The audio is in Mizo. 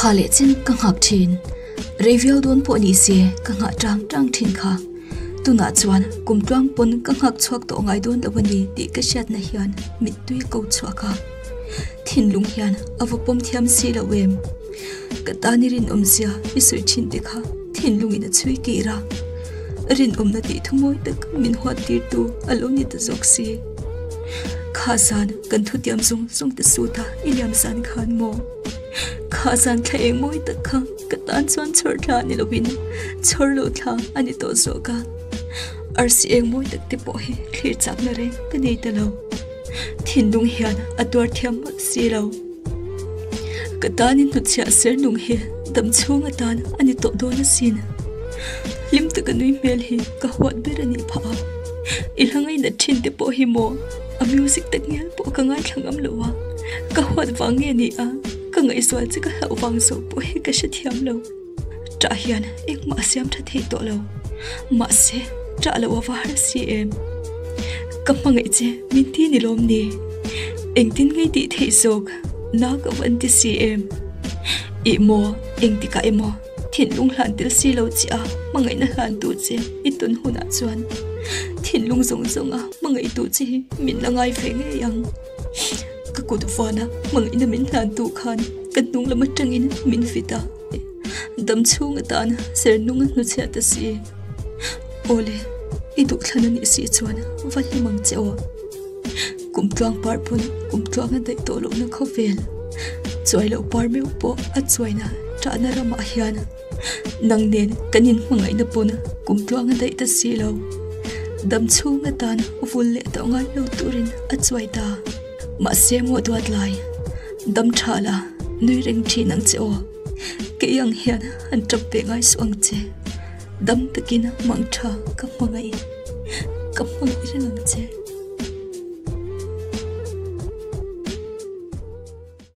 Kha leh chen ka nghak thin. Rei viau dawn pawh ni se ka nghah tang tang thin kha. Tunah chuan kum tluang pawn ka nghak chhuak tawh ngai dawn lo a ni tih ka hriatna hian mittui ko chhuak a. Thinlung hian a va pawm thiam si lo em? Ka tan i rinawmzia i sawi thin te kha thinlungin a chhui kir a. Rinawmna tih thumawi tak min huattirtu a lo ni ta zawk si. Khahsan, kan thutiam zung zung te suta i liam zan khan maw? Khahsan thla eng mawi tak kha ka tan chuan chhawr thla a ni lovin chhawr lo thla a ni tawh zawh ka. Arsi eng mawi tak te pawh hi thlir chakna reng ka nei ta lo. Thinlung hian a tuar thiam hmak si lo. Ka tan in hnuchhiah ser nung hi dam chhung atan a ni tawh dawn asin. Hlim taka nui hmel hi ka huat ber a nih phah a. I hlangaih nat thin te pawh hi maw a music ta ngial pawh ka ngaithlang am lo a, ka huat vang nge nih a, ka ngaihzual che ka hlauh vang zawh pawh hi ka hrethiam lo. Ṭah hian engmah a siam ṭha theih tawh lo. Mahse, ṭah loh a var a si em? Ka hmangaih che, min ti ni lawm ni? Engtin ngei tih theih zawk nâ ka van ti si em? I maw, engtikah emaw thinlung hlantel si lo chiah a hmangaihna hlantu che i tawn hunah chuan thinlung zawng zawnga hmangaihtu che hi min la ngai ve ngei ang. Ka kut vana hmang ina min hlan tu khan ka hnung lama tangin min fit a. Dam chhung atan ser nunga hnu chhia ta si e. Ole, i duh thlan ani si chuan va hlim ang che aw. Kum tluang par pawh kum tluang a daih tawh lo na khaw vel. Chuai lo par meuh pawh a chuaina tahna ramah hian. Nang nen kan in hmangaih na pawna kum tluanga daih ta si lo. Dam chunga tan u vul leh tawh ngai lo turin a chuai ta. Mah se mo duat lai. Dam tha la nui reng thi nang che o. Kei ang hian han tap ve ngai su ang che. Dam takin mang tha ka hmangaih. Ka hmangaih reng ang che.